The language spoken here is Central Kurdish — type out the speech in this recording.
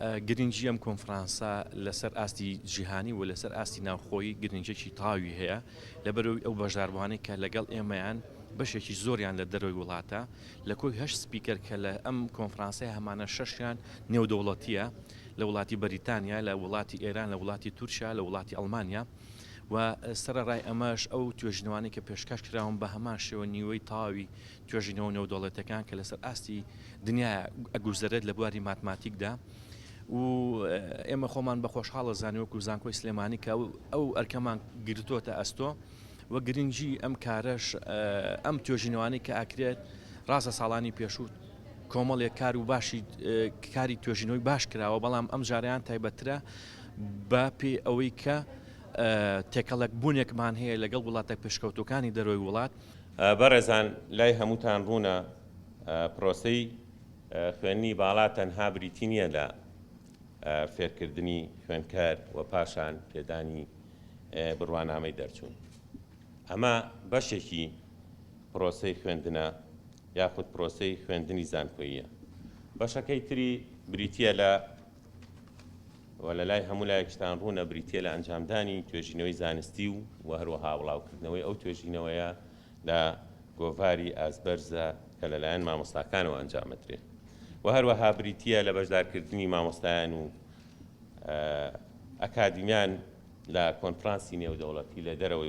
گرنگی ئەم کۆنفرانسە لەسەر ئاستی جیهانی و لەسەر ئاستی ناوخۆیی گرنگێکی تاوی هەیە لەبەرەوەی ئەو بەشداربووانەی کە لەگەڵ ئێمەیان بەشێکی زۆریان لە دەرەوەی وڵاتە لە کۆی هەش سپیکەر کە لە ئەم کۆنفرانسی هەمانە شەشیان نێودەوڵەتیە لە وڵاتی بەریتانیا لە وڵاتی ئێران لە وڵاتی تورکیا لە وڵاتی ئەڵمانیا و سەرڕای ئەمەش ئەو توێژنەوانی کە پێشکەش کراون بە هەمان شێوە نیوەی تاوی توێژینەوە نێودەوڵەتیەکان کە لەسەر ئاستی دنیایە ئەگوزەرێت لە بواری ماتماتیکدا و ئێمە خۆمان بە خۆشحاڵە زانیوەکو زانکۆی سلێمانی کە ئەو ئەرکەمان گرتوۆتە ئەستۆ و گرنگی ئەم کارەش ئەم توێژینەوانی کە ئاکرێت ڕاستە ساڵانی پێشوو کۆمەڵێک کار و باشی کاری توێژینەوەی باش کراوە بەڵام ئەم جاریان تایبەترە بە پێ ئەوەی کە تێکەڵک بوونێکمان هەیە لەگەڵ وڵاتە پێشکەوتەکانی دەرۆی وڵات بەڕێزان لای هەمووتان ڕوونە پرۆسەی خوێندنی باڵا تەنها بریتی نییە لە فێرکردنی خوێندکار و پاشان پێدانی بڕوانامەی دەرچوون. ئەمە بەشێکی پرۆسەی خوێندنە یاخود پرۆسەی خوێندنی زانکۆییە. بەشەکەی تری بریتییە لە و لە لای هەموو لایەکشتان ڕوونە بریتیە لە ئەنجامدانی توێژینەوەی زانستی و و هەروەها بڵاوکردنەوەی ئەو توێژینەوەیە لە گۆڤاری ئازبەرزە کە لەلایەن مامۆستاکانەوە ئەنجامەدرێ و هەروەها بریتیە لە بەشدارکردنی مامۆستایان و ئەکادیمیان لە کۆنفرانسی نێودەوڵەتی لە دەرەوەی